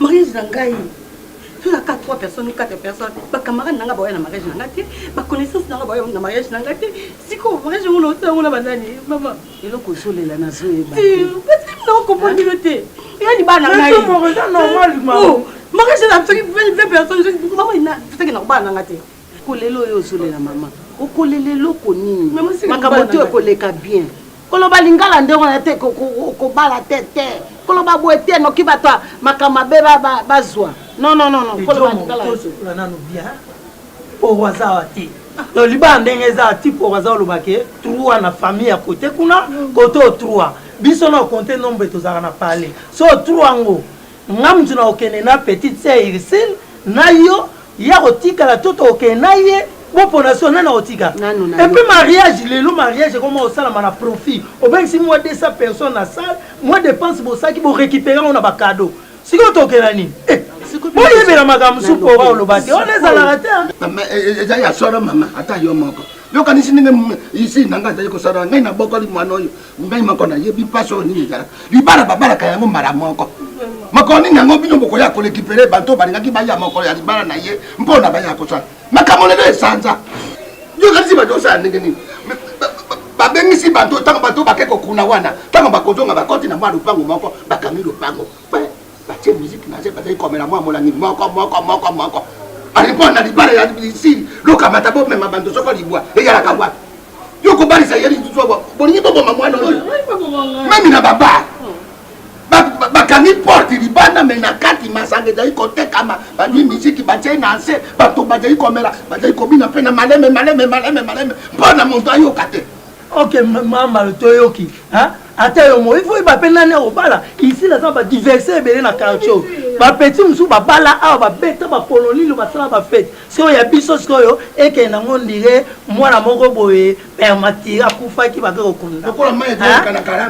mariage na ngai tozalaka trois personnes ou quatre personnes bacamarade na ngai baoya na mariage na ngai te baconnaissance na ngai baoya na mariage na ngai te sikoyo mariage yango naosa yango na banani mama eloko ozolela nazoyeba naokomprendino te eya libana ngai mariage na soki 20 personnes mama totaki na kobana na ngai te Kolela oyo ozolela mama, okolela eloko nini? Makambo to ekoleka bien. Koloba lingala nde wana te kobala te te. Koloba boye te noki bato makambo mabe bazwa. Non non non non koloba lingala. Tosokola nanu bien. Poro aza awa te. Donc libala ndenge eza ti poro aza oloba ke trua na famille ya kote kuna kote o trua. Biso na okonte nombre tozalaka na palais. So trua ngo Nga mutu nako kende na petite sœur Ursule na yo ye ako tikala to toko kende na ye bo pona sikoyo nani ako tika et puis mariage lelo mariage ekoma ko salama na profit obengisi mua 200 personnes na salle mua depense bo salaki bo recuperer yango na ba cadeau sikoyo toko kende na nini eh bo yebela makambo mususu po ba oloba te wana ezalaka te hein eza ya solo maman ata yo moko yo kanisi ndenge ici na nga azali ko solo ngai na bokoli muana oyo ngai moko nayebi mpasi oyo nini ezalaka libala babalaka yango mbala moko mokolo nini yango bino bokoya kolekipere bato balingaki baya mokolo ya libala na ye mpo na baya kosala makambo lelo esanza yokanisi bato osala ndenge nini babengisi bato ntango bato bake kokuna wana ntango bakozonga bakoti na mwa lopango moko bakangi lopango batie miziki na se bazali komela mwa molangi moko moko moko moko alipo na libala ya lisili lokamata bomema bando soko libwa eyalaka wapi yo kobalisa ye lisusu bolingi boboma mwana oyo memi na babaa bakangi porte libanda me na kati masanga ezali kotekama bazwi miziki batie na nse bato bazali komela bazali kobina mpe na maleme maleme maleme maleme mpo na moto ayoka te ok mama toyoki ata yo mo ifo oyeba mpe nani akobala isi naza na badiverse ebele na quartier oyo bapeti mosusu babala awa babeta bapolonilo basala bafete sikoyo ya biso sikoyo ekende nango ndire mwana moko boye permatire akufaki bake kokunda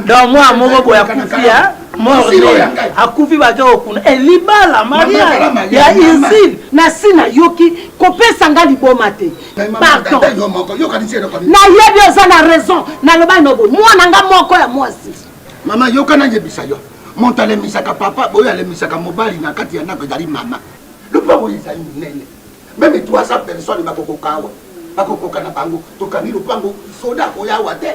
donc mwana moko boye akufi ya morne akufi bake kokunda e libala maria ya isine nasi nayoki kopesa nga liboma te pardon nayebi oza na raison naloba nobo mwana nga moko ya mwasi mama yoka nayebisa yo moto alemisaka papa oyo alemisaka mobali na kati ya ndako ezali mama lopango oyo ezali monene meme 300 personne bakokoka awa bakokoka na bango tokani lopango soda akoya awa te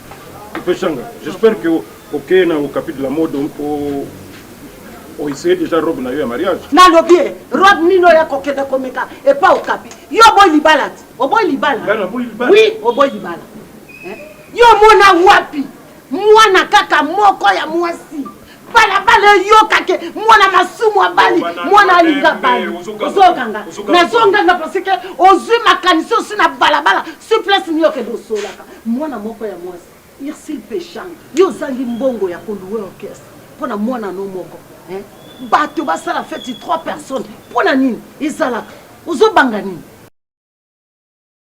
Peshanga, j'espère que okeye na Okapi de la mode o o essayer déjà robe na yo ya mariage. Nalobi ye, robe nini oya kokende komeka epa Okapi? Yo oboyi libala ti? Oboyi libala? Nga naboyi libala. Oui, oboyi libala. Hein? Yo omona wapi mwana kaka moko ya mwasi balabala eyoka ke mwana masumu abali mwana alinga bali ozokanga nazonganga parce que ozwi makanisi osi na balabala sur place niyoke bosolaka mwana moko ya mwasi irsil pechang yo ozangi mbongo ya koluwe orchestre mpo na mwana no moko bato basala feti 3 personnes mpo na nini ezalaka ozobanga nini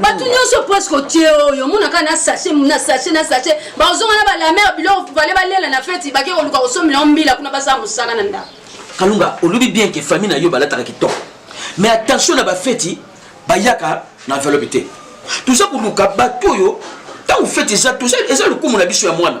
bato nyonso presque otie oyo omonaka na sache na sache na sache bazonga na balamer biloko vale balela na feti bake koluka kosombela o mbila kuna basala mosala na ndako kalunga olobi bien ke famille na yo balataka kitoko mais attention na bafeti bayaka na enveloppe te toza koluka bato oyo ntango feti eza lokumu na biso ya mwana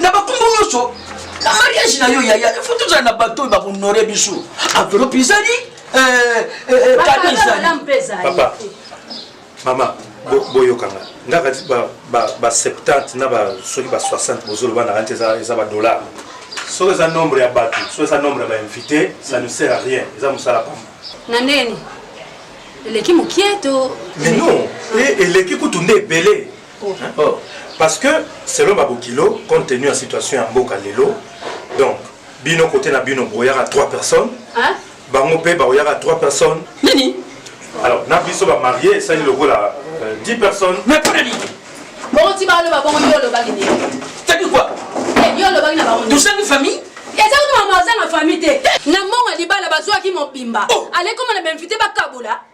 na bakombo nyonso na mariage na yo yaya fo tozala na bato oyo bakonore biso enveloppe ezali kani ezalipapa mama boyokanga nga kati ba 70 na soki ba 60 bozoloba na kanti eza badollar soki eza nombre ya bato soki eza nombre ya bainvité ça ne sert à rien eza mosala pamba na neni eleki mokie to mais non eleki kutu nde ebele Oh, parce que selon ba bokilo compte tenu ya situation ya mboka lelo donc bino kote na bino boyaka 3 personnes Hein? bango mpe bakoyaka 3 personnes Nini? alors na biso bamarie esali lokola euh, 10 personnes Mais pour la ligue, Bongo ti ba loba bongo yo olobaki nini? t'as dit quoi Eh, yo olobaki na bango nini? Touche une famille eza kutu mama aza na famille te na mbongo ya libala bazwaki mobimba alekoma na bainvite bakabola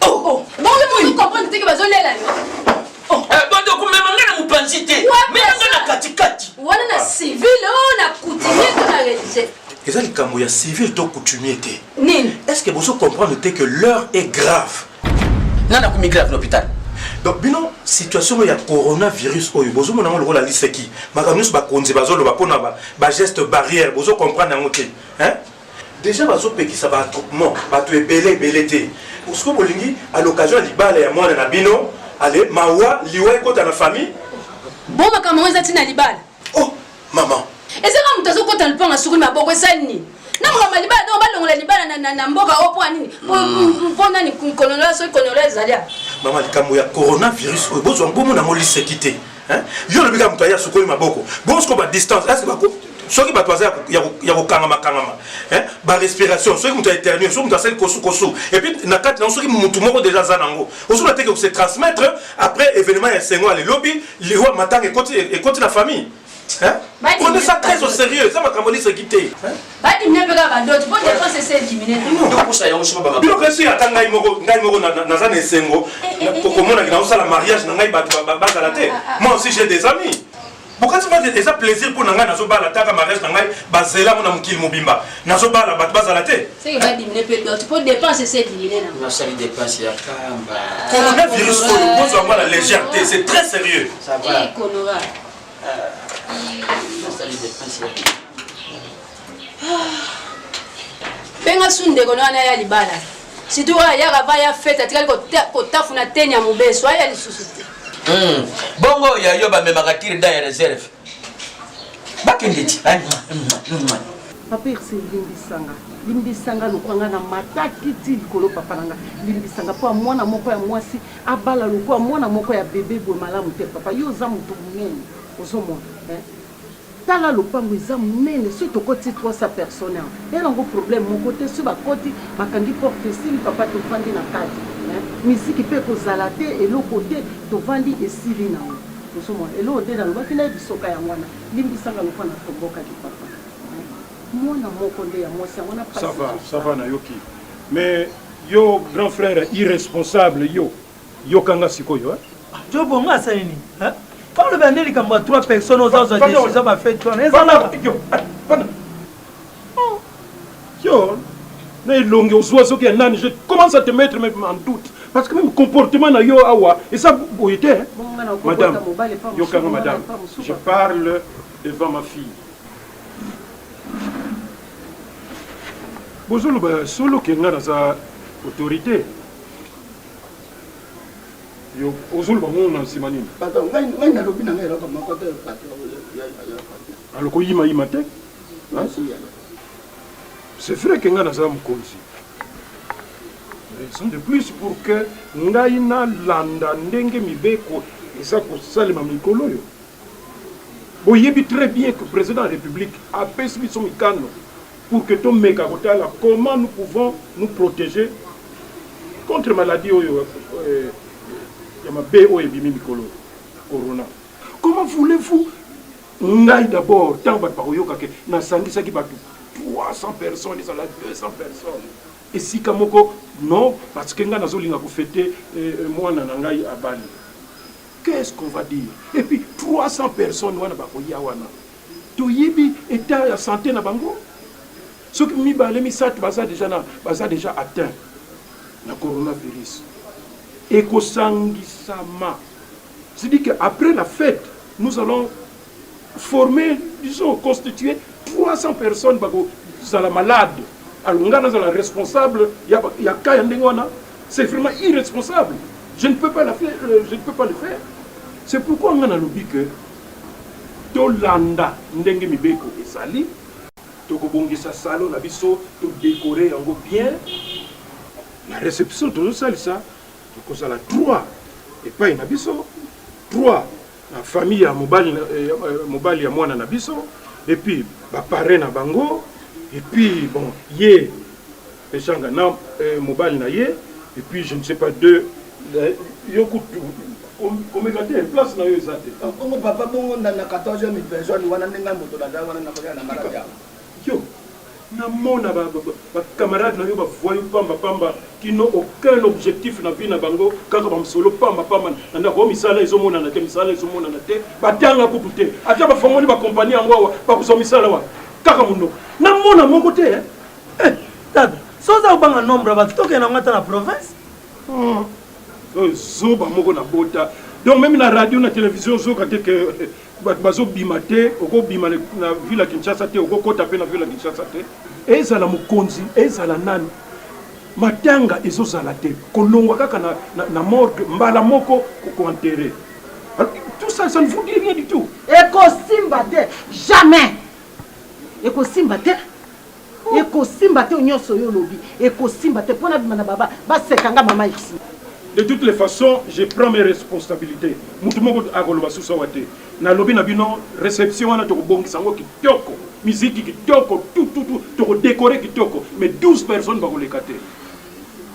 Oh, oh. bando eh, komema ngai na mopanzi te mema ngai na katikati wana na civil o oh, na coutumier to na religieux eza likambo ya civil to coutumier te nini est ce que bozo comprendre te que l'heure est grave nani akomi grave na hôpital donc bino situation ya coronavirus oyo bozomona yango lokola liseki makambo nyonso bakonzi bazoloba mpo na bageste barrière bozo comprendre yango te Dejà bazo pekisa ba attroupement batu ebele ebele te sikoyo bolingi à l'occasion ya libala ya mwana na bino ale mawa liwa ekota na famille Bon makambo yango eza ntina libala oh maman eza kaka moto azokota lupanga sukuli maboko esali nini na makambo ya libala donc balongola libala na- na- na mboka oyo mpo ya nini Mpo- mpo nani konolo soki konolo ezali awa mama likambo ya coronavirus oyo bozwa mbomo nango liseki te Hein? Yo le bika mutu aya sukoli maboko. Bon siko ba distance, est-ce que ba ko soki bato baza ya kokangama kangama hein? ba respiration soki moto aeternue soki moto asali kosu kosu epuis na kati nango soki motu moko deja aza nango ozoba te ke kose transmettre après événement ya esengo ale lobi liwa matanga ekoti na famille hein? prenez ça très au sérieux eza makambo liseki te hein? Ba diminuer pe kaka ba dot po defense ese diminuer. Tokosa yango soba ba. Bino kasi ata ngai moko ngai moko naza na esengo kokomona kina osala mariage na ngai bato bazala te. Moi aussi j'ai des amis. bokati mpe eza plaisir mpo na ngai nazobala taka mariage na ngai bazela yango na mokili mobimba nazobala bato bazala te coronavirus oyo bozwa yango na légère te c'est très sérieux benga su ndeko na wana ya libala surtout oyo ayaka va ya fete atikali kotafuna teni ya mobeso aya lisusu te hmm. bongo oyo yayo bamemaka tire da ya reserve bakende ti papa irse limbisanga limbisanga lokwanga na mataki ti likolo papa na nga limbisanga mpo ya mwana moko ya mwasi Abala lokola mwana moko ya bebe boye malamu te papa yo oza moto monene ozomona eh? tala lopango eza monene soki tokoti 300 personne awa ya nango problème moko te soki bakoti bakangi porte esili papa tovandi na kati eh? miziki mpe kozala te eloko te tovandi esili nango ozomona eloko nde nalobaki na ye bisoka yango wana limbisanga lokola natombokaki papa eh? mwana moko nde ya mwasi yango na pasi nayoki mais Yo grand frère irresponsable yo yoka nga sikoyo hein? Job bongo asali nini hein? Quand le bandeli kambo trois personnes aux autres décisions ba fait toi mais ça là yo panda yo na elongi ozwa soki ya nani je commence à te mettre même en doute parce que même comportement na yo awa eza boye te madame yokanga madame je parle devant ma fille Bozo loba ya solo ke nga naza autorite yo ozo loba ngo na nsima nini Pardon, ngai ngai nalobi na ngai eloko moko te patron. ya- ya- ya- ya- aloko yima yima te Hein? Merci, ya- c'est vrai ke nga naza mokonzi raison de plus pour que ngai nalanda ndenge mibeko eza kosalema mikolo oyo Boyebi très bien que President ya Republique apesi biso mikano pour que tomeka kotala comment nous pouvons nous proteger contre maladie oyo ya mabe oyo ebimi mikolo oyo, Corona. Comment voulez-vous ngai d'abord tango batu bakoyoka que nasangisaki batu 300 personnes ezala 200 personnes esika moko? Non, parce que ngai nazolinga ko feter mwana na ngai abali. Qu'est ce qu'on va dire et puis 300 personnes wana bakoya wana toyebi etat ya sante na bango soki mibale misato baza deja na baza deja atteint na coronavirus ekosangisama c'est dit que après la fête nous allons former disons constituer 300 personnes bako zala malade alors nga nazala responsable ya ya cas ya ndenge wana c'est vraiment irresponsable je ne peux pas la faire euh, je ne peux pas le faire c'est pourquoi nga nalobi que tolanda ndenge mibeko ezali tokobongisa salon na biso todekore yango bien na reception tozosalisa tokozala 3 epai na biso 3 na famille ya mobali mobali ya mwana na biso et puis ba parrain na bango et puis bon ye echanga na eh, mobali na ye et puis je ne sais pas deux eh, yo kutu komeka te place na yo eza te bongo papa bongo na 14 mipenso wana ndenge moto naza wana nakoya na maladi yango Yo na mona ba camarade nayo ba voyou pamba pamba qui n'ont aucun objectif na vie na bango kaka ba msolo pamba pamba na ndaku oh misala ezo monana te misala ezo monana te ba tanga kutu te ata ba fongoli ba compagnie yango awa ba kozua misala wapi kaka munoko na mona moko te hein eh tata so oza kobanga nombre ya batu tokende yango ata na province oh. oyo zoba moko na bota donc meme na radio na television ozoka te ke Bato bazo bima te, oko bima na ville ya Kinshasa te, oko kota pe na ville ya Kinshasa te. Ezala mokonzi, ezala nani, matanga ezo zala te, ko longwa kaka na, na, na morgue mbala moko ko enterrer. Tout ça, ça ne vous dit rien du tout. Eko simba te, jamais! Eko simba te. Ekosimba te nionso yo olobi ekosimba te po na bima na baba ba seka nga mama Ursi. De toutes les façons je prends mes responsabilites mutu moko ako loba susu awa te na lobi na bino reception wana toko bongisa yango kitoko musique kitoko tout tout tout toko decorer kitoko mais 12 personnes bako leka te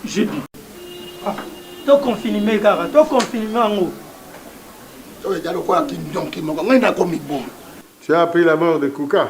j'ai dit. Ah to confirmer kaka to confirmer yango. Oyo eza lokola kindonki moko ngai nakomi bomi. Tu as appris la mort de Kuka?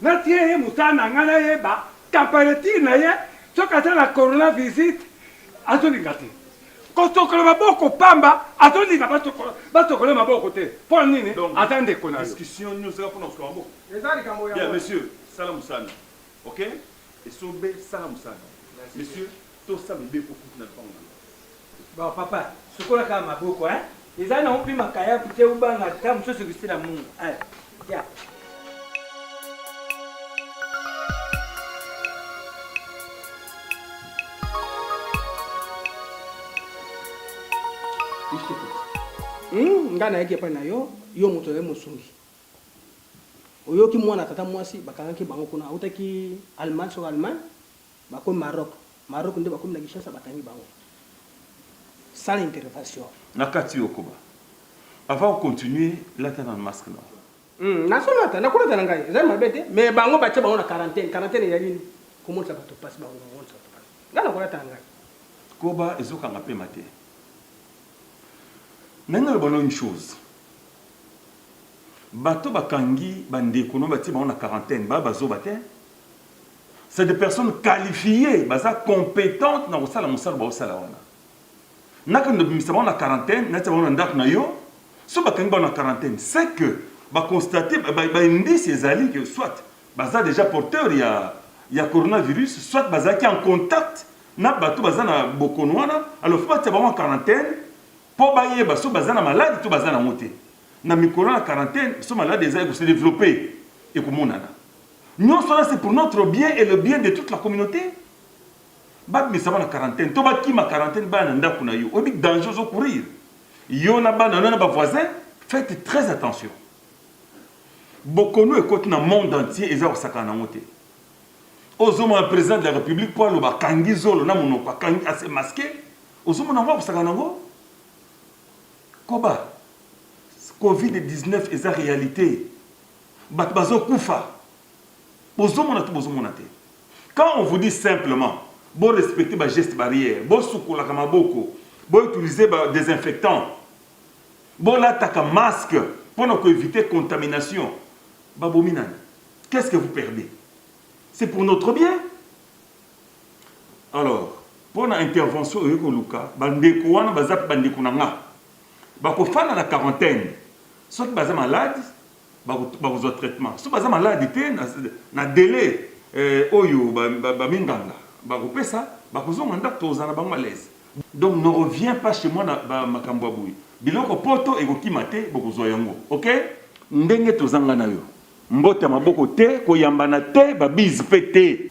Na tie ye musala na nga na ye ba temperature na ye soki aza na corona visite azo linga te ko sokola maboko pamba azo linga ba sokola ba sokola ye maboko te pona nini aza ndeko na yo. Eza likambo ya boye. Bon papa sukola kaka maboko hein. Eza na mpe makayabu te obanga ta mususu kisila mungu hein. Tia. Hmm, nga nayaki epai na yo yo moto ozali mosungi oyoki mwana tata mwasi bakangaki bango kuna autaki allemagne soki allemagne Bakomi Maroc Maroc nde bakomi na Kinshasa bakangi bango sala intervention. Na kati yo koba avant o continuer lata nanu masque na yo. Hum nazo lata nako lata na ngai eza mabe te mais bango batie bango na quarantaine quarantaine ya nini komonisa batu pasi bango komonisa batu pasi ngai nako lata na ngai. Koba ezo kanga pema te nalingi naloba no une chose bato bakangi ba ndeko no batie bango na quarantaine ba bazoba te. C'est des personnes qualifies, baza competentes na kosala mosala baosala wana. Naka ndobimisa bango na quarantaine, natia bango na ndako na yo, so bakangi bango na quarantaine, c'est que ba constate ba indice ezali que soit baza deja porteur ya ya coronavirus, soit bazalaki en contact na bato baza na bokono wana, alors faut batia bango en quarantaine mpo bayeba so baza na maladi to baza nango te. Na mikolo wana quarantaine, so maladi eza ekose developper, ekomonana. Nionso wana c'est pour notre bien et le bien de toute la communaute. Ba misa bango na quarantaine to ba kima quarantaine baya na ndaku na yo. Oyebi danger ozo courir? Yo na bana na yo na ba voisins? Faites très attention. Bokono ekoti na monde entier eza ya kosakana nango te. Ozo mona president de la republique po aloba akangi zolo na munoko akangi a se masquer ozo mona yango ya kosakana nango? Koba Covid 19 eza realite. Bato bazo kufa bozo mona to bozo mona te quand on vous dit simplement bo respecter ba gestes barrières bo sukolaka maboko bo utiliser ba desinfectants bo lataka masque pona ko eviter contamination ba bomi nani qu'est ce que vous perdez c'est pour notre bien alors pona intervention oye koluka ba ndeko wana baza pe ba ndeko na nga Bakofanda na quarantaine. Soki baza malade, bakozwa traitement. Soki baza malade te, na delai oyo ba minganga bakopesa, bakozonga ndaku, tokozala na bango à l'aise. Donc ne reviens pas chez moi na ba makambo ya boye. Biloko poto ekokima te, bokozwa yango ok. Ndenge tozanga nayo mbote ya maboko te, koyambana te, ba bise pe te.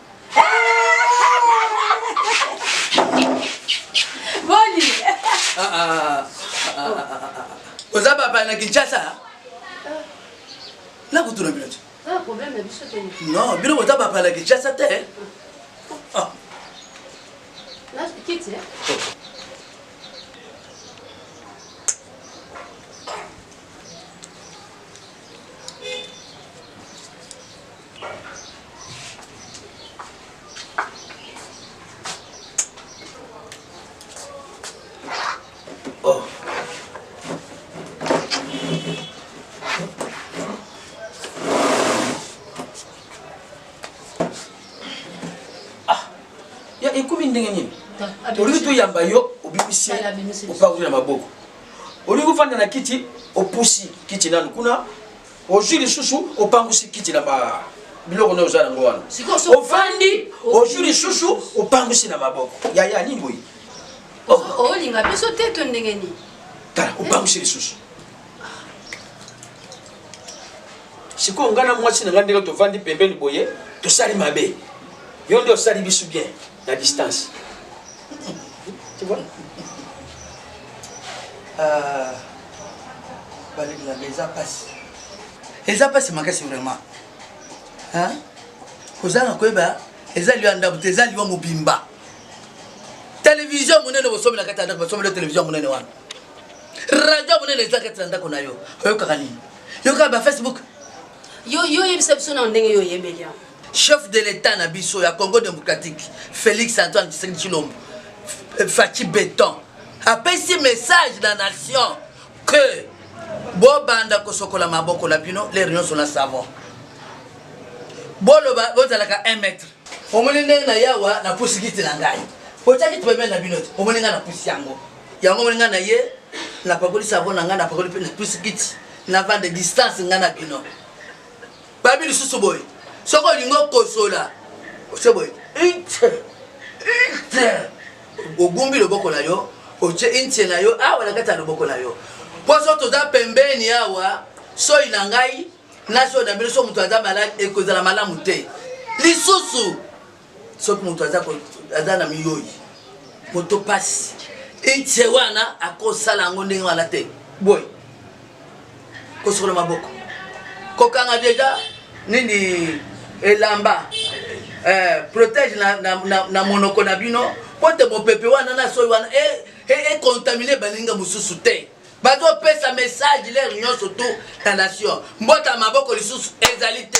boni oza bapaya na kinshasa nakutuna bino non bino boza bapaya na kinshasa te ndenge nini olingi toyamba yo obimisi opakoli na maboko olingi ofanda na kiti opusi kiti nanu kuna ozwi lisusu opangusi kiti na ba biloko nde oza yango wana ofandi ozwi lisusu opangusi na maboko yaya nini boye olinga biso te to ndenge nini tala opangusi lisusu sikoyo ngai na mwasi na ngai ndenge tovandi pembeni boye tosali mabe yo nde osali biso bien na distance tu vois ah, baleki na eza mpasi eza mpasi makasi vraiment koza na koyeba eza liwa ndambo te eza liwa mobimba televizio monene bosombela kati ya ndako basombela televizio monene wana radio monene eza kati na ndako na yo oyokaka nini yokaka bafacebook yo oyebisa biso na ndenge yo oyebeli yango chef de l'etat na biso ya congo démocratique félix antoine tshisekedi tshilombo euh, faci beton apesi message na nation que bobanda kosokola maboko na bino lere nyonso na savon boloba bozalaka 1 mètre omoni ndenge na yawa napusi kiti na ngai otyaki pembe na bino te omoni ngai napusi yango yango omoni ngai na ye napakoli savon na ngai napakoli mpe napusi kiti na vande distance ngai na bino babi lisusu boye soki olingi okosola ose boye inte inte ogumbi loboko na yo otie inte na yo awa na kati ya loboko na yo mpo so toza pembeni awa soi na ngai na soi na bino so moto aza maladi ekozala malamu te lisusu soki moto aza na miyoyi moto pasi inse wana akosala yango ndenge wana te boye kosokola maboko kokanga deja nini elamba eh, protège na, na, na, na monoko na bino mpo te mopepe wana na soi wana ekontamine e, e, e baninga mosusu te bazopesa message lere nyonso to na nation mbota maboko lisusu ezali te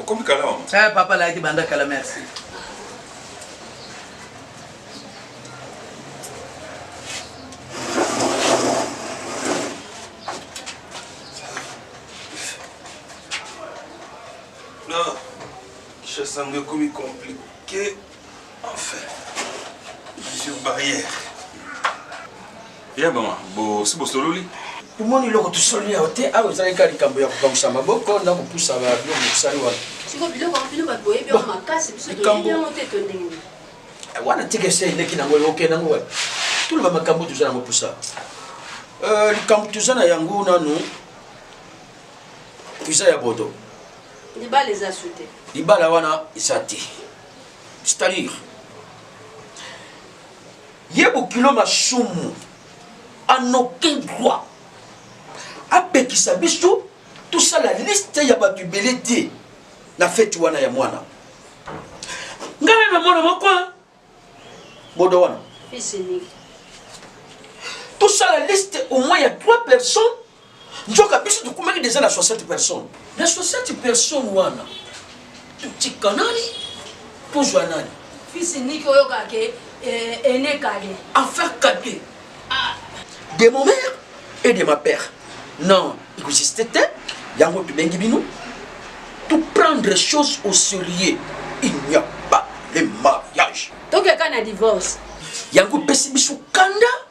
okomi kala wango eh, papa alaki banda kala merci non kishasango ekomi compliqué Enfin, mesure barrière. Ya mama, bosi bosololi? omoni eloko tosoli yaho te awa ezalaki kaka likambo ya kokamwisa maboko na kopusa babiloko mosali wana eh, wana tika ese eleki nango okende yango wana toloba makambo toza nango mposa euh, likambo toza na yango nanu eza ya bodo libala wana eza te c'est-à-dire ye bokilo masumu en aucun droit apekisa biso tosala liste ya bato ebele te na feti wana ya mwana ngai na mwana moko bodo wana tosala liste au moins ya 3 personnes nzoka biso tokomaki deja na 60 personnes na 60 personnes wana totika nani tozwa nani fils unique oyokaka ke eh, aine kade enfin kade ah. de mon mère et de ma père non ekosiste te yango tobengi bino to prendre chose au sérieux il n'y a pas le mariage tokeka na divorce yango epesi biso kanda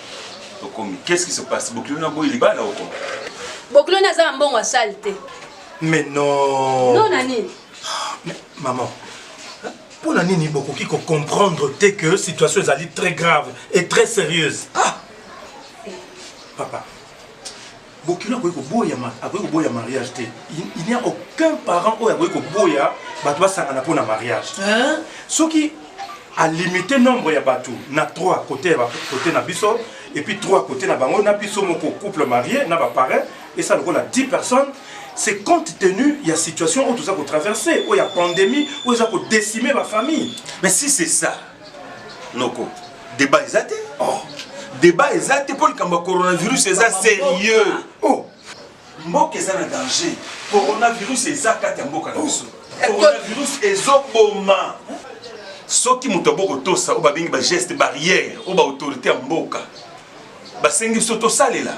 okomi qu'est-ce qui se passe bokilo na boyi libala oko bokilo na za mbongo asali te mais non non na nini mais maman mpo na nini bokoki kocomprendre te que situation ezali très grave et très sérieuse ah papa bokilo akoki koboya akoki koboya mariage te il n'y a aucun parent oyo akoki koboya bato basangana mpo na mariage soki alimite nombre ya bato na 3 kote kote na biso et puis 3 kote na bango na biso moko couple marie na baparein esa lokola 10 personnes c'est compte tenu ya situation oyo toza kotraverse oyo ya pandémie oyo eza kodesime bafamille mais si c'est ça noko debat eza te oh. debat eza te mpo likambo ya coronavirus eza sérieux oh. mboka eza na danger coronavirus eza kati ya mboka na biso oh. coronavirus ezoboma soki moto abo kotosa oyo babengi bageste barrière oyo baautorité ya mboka basengi biso tosalela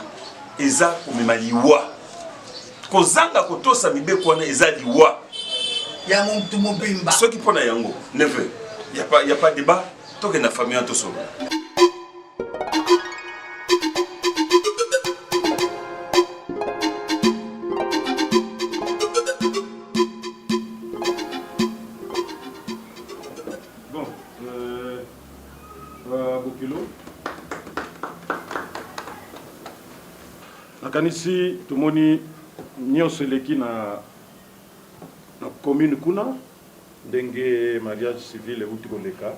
eza komema liwa kozanga kotosa mibeko wana eza liwa ya motu mobimba soki mpo na yango neveu ya pa debat tokenda famille wana tosolola Nakanisi tomoni nionso eleki na na commune kuna ndenge mariage civil ewuti koleka.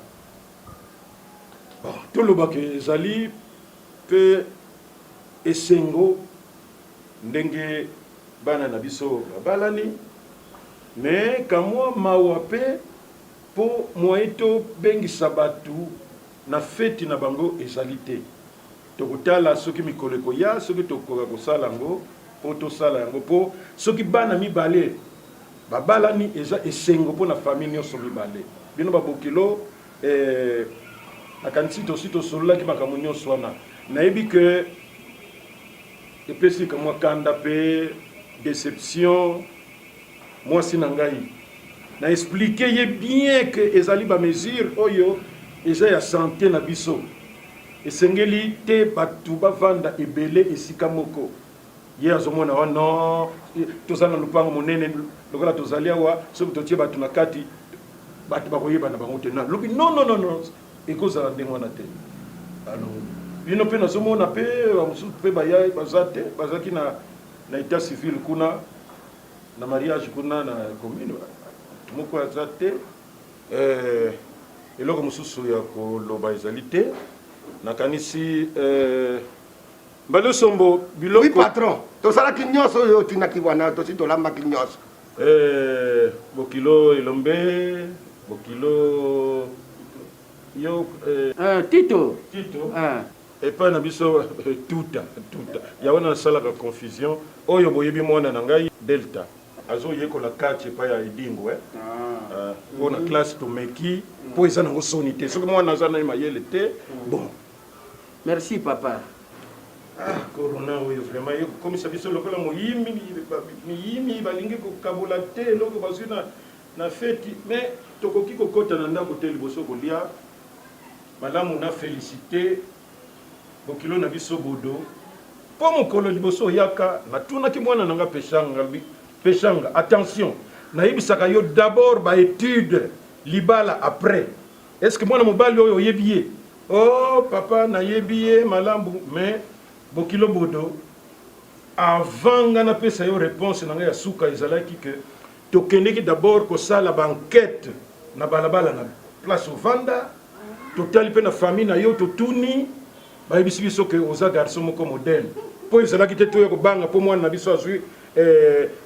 Bon, toloba ke ezali pe esengo ndenge bana na biso babalani me kamwa mawa pe po moyen tobengisa batu na feti na bango ezali te. Tokotala soki mikolo ekoya soki tokokoka kosala yango po tosala yango po soki bana mibale babalani eza esengo pona famille nionso mibale. Bino ba bokilo eeh nakanisi tosi tosololaki makambo nionso wana nayebi que epesi kamwa kanda pe deception. Mwasi na ngai, na expliquer ye bien que ezali ba mesures oyo eza ya sante na biso. Esengeli te batu bavanda ebele esika moko. Ye azomona oh non, toza na lopango monene lokola tozali awa, soki totie batu na kati batu bakoyebana bango te. Nalobi non, non, non, non, ekozala ndenge wana te. Alors bino pe nazomona pe bamosusu pe baye baza te, bazalaki na na etat civil kuna. na mariage kuna na commune moko aza te eh, eloko mosusu ya koloba ezali te nakanisi eh, mbale sombo biloko oui, patron tosalaki nyonso oyo otinaki wana tosi tolambaki nyonso eh, bokilo elombe bokilo yo eh, uh, tito tito uh. Epai na biso tuta tuta yango wana nasalaka confusion oyo boyebi mwana na ngai delta azo yekola catch epai ya edingwe po na classe tomeki po eza nango soni te soki mwana aza naye mayele te bon Merci papa. Ah, corona oyo vraiment yo komisa biso lokola moyimi miyimi balingi kokabola te eloko bazwi na na feti mais tokoki kokota na ndako te liboso kolia Malamu na felicite bokilo na biso bodo po mokolo liboso oyaka natunaki mwana nanga peshanga peshanga attention nayebisaka yo d'abord ba etude libala après est ce que mwana mobali oyo oyebi ye oh papa nayebi ye malamu mais bokilo bodo avant nga napesa yo reponse na nga ya suka ezalaki que Tokendeki d'abord kosala ba enquetes na balabala na place ovanda, totali mpe na famille na yo totuni, bayebisi biso que oza garçon moko modèle mpo ezalaki te toya kobanga mpo mwana na biso azwi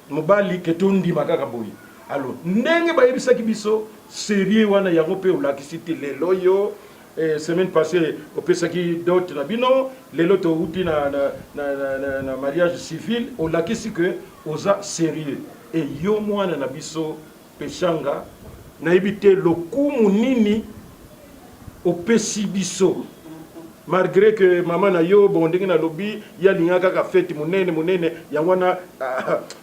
mobali que tondima kaka boye. Alors ndenge bayebisaki biso serieux wana yango mpe olakisi ti lelo oyo Eh, semaine passée opesaki dot na bino lelo touti na, na, na, na, na mariage civil olakisi que oza serieux e yo mwana na biso peshanga nayebi te lokumu nini opesi biso malgré que mama na yo bon ndenge nalobi ye alinga kaka fete monene monene yango wana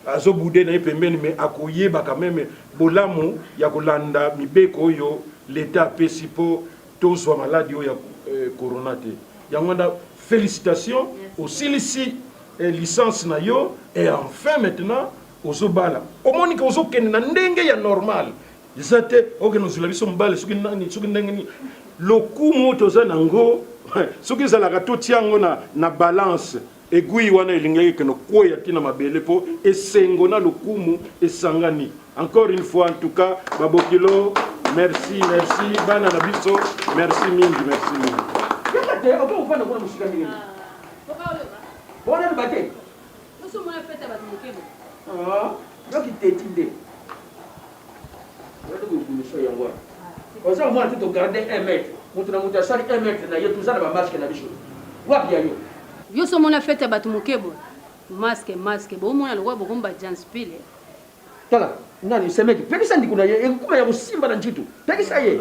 azobude na ye pembeni me akoyeba quand meme bolamu ya kolanda mibeko oyo L'etat apesi po tozua maladi oyo ya corona te yango wana felicitations osilisi licence na yo et enfin maintenant ozo bala omoni ke ozo kende na ndenge ya normal eza te okende ozula biso mobali soki nani soki ndenge nini lokumu oyo toza na ngo soki ezalaka totia yango na balance Aiguille wana elingaki ekende kweya ti na mabele po esengo na lokumu esangani. Encore une fois en tout cas ba bokilo merci merci bana na biso merci mingi merci mingi. Kaka te oke ofanda kuna musika ndenge nini? Bona loba te. Oso mona fete ba mokebo. Ah, yo kiteti nde. Wana ko evolution yango wana. Oza komona te to garder 1 mètre. Moto na moto asali 1 mètre na ye toza na ba masque na biso. Wapi ya yo? Yo osi omona fete ya batu moke boye? Masque masque bo mona lokola bokomi ba janspile. Tala nani semeki pekisa ndeko na ye ekukuma ya kosimba na njitu pekisa ye.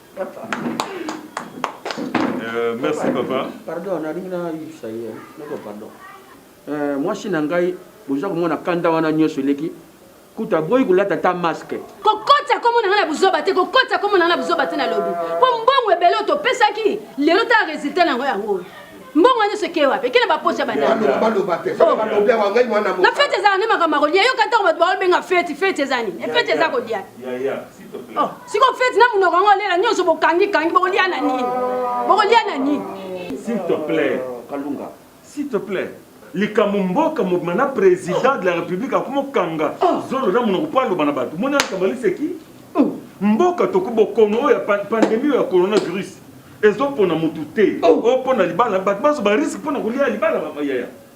Euh, merci papa. Pardon, on a dit là, ça y est. Non, pardon. Euh, moi, je suis nangai, boza komona kanda wana nyoso eleki. Kuta boyi kolata ta masque. Kokota komona ngana buzoba te, kokota komona ngana buzoba te na lobi. Po mbongo ebele otopesaki, lelo ta resultat nango yango. mbongo nyonso ekei wapi ekei na baposa banana fete ezala nde makambo ya kolia yoka ntango bato baobenga feti feti eza nini feti eza kolia Oh, siko feti na munoko yango olela nyonso bokangi kangi bokolia na nini bokolia na nini s'il te plaît kalunga s'il te plaît likambo mboka mobima na président de la république akoma okanga oh. zolo na monoko mpo aloba na bato moni likambo aliseki oh. mboka toko bokono oyo ya pandémie oyo ya coronavirus ezopona motu te opona libala bato bazo bariske mpona kolia libala yaya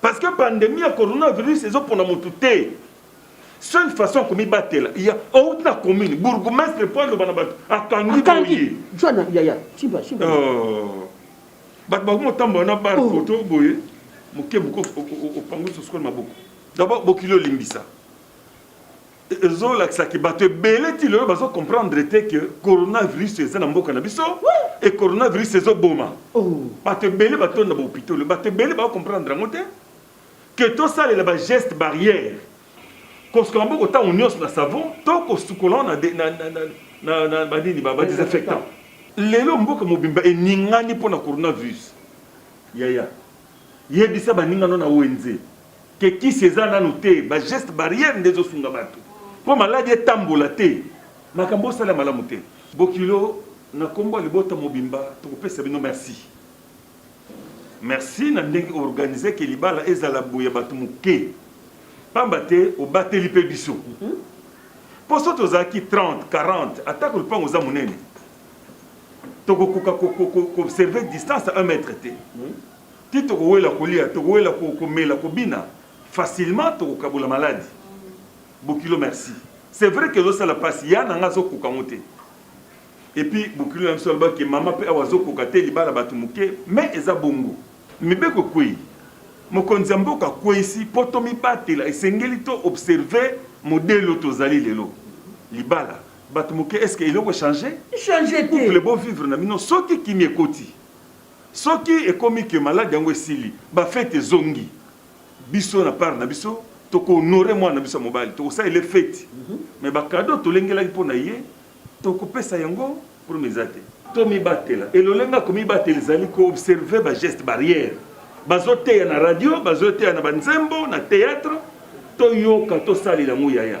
Parce que pandemie ya coronavirus ezo pona mutu te. Seule façon ya komibatela ya outi na commune bourgoumestre mpo aloba na bato akangi boye jwana yaya simba simba oh. bato bakomi kotambola na bar oh. poto boye moke moke opangusi osukoli maboko dabord bokili olimbisa Ezo lakisa que batu ebele ti lelo bazo comprendre te que corona virus eza na mboka na biso et corona virus ezo boma batu ebele ba tondi na ba hopitaux lelo batu ebele ba comprendre yango te que to salela ba geste barrière kosukola maboko tango nionso na savon to kosukola na na na na ba nini ba ba desinfectant lelo mboka mobimba eningani pona corona virus yaya yebisa baninga no na wenze Que kisi eza nanu te, ba gestes barrières nde ezo sunga batu po maladi etambola te, makambo oyo sala malamu te. Bokilo na kombo ya libota mobimba tokopesa bino merci. Merci na ndenge o organiser que libala ezala boye ya batu muke pamba te obateli pe biso. Po soki tozalaki 30, 40 atako lopango eza monene tokokoka ko ko ko ko observer distance ya un mètre te. Te tokowela kolia, tokowela komela, kobina facilement, tokokabola maladi bokilo merci c'est vrai que ezosala pasi ya na nga azokoka yango te epuis bokilo na biso aloba ke mama pe awa azokoka te libala bato moke mais eza bongo mibeko ekwei mokonzi ya mboka akweisi mpo tomibatela esengeli to observe modelo tozali lelo libala bato moke eske eloko echange couple bo vivre na bino soki kimi ekoti Soki ekomi que malade yango esili, ba fete ezongi, biso na part na biso toko honorer mwana na biso ya mobali, toko salela ye feti mais ba cadeaux tolengelaki mpo na ye toko pesa yango, problème eza te. Tomibatela et lolenge ya komibatela ezali ko observer ba gestes barrières bazo teya na radio, bazo teya na ba nzembo, na theatre, toyoka, tosalela yango yaya.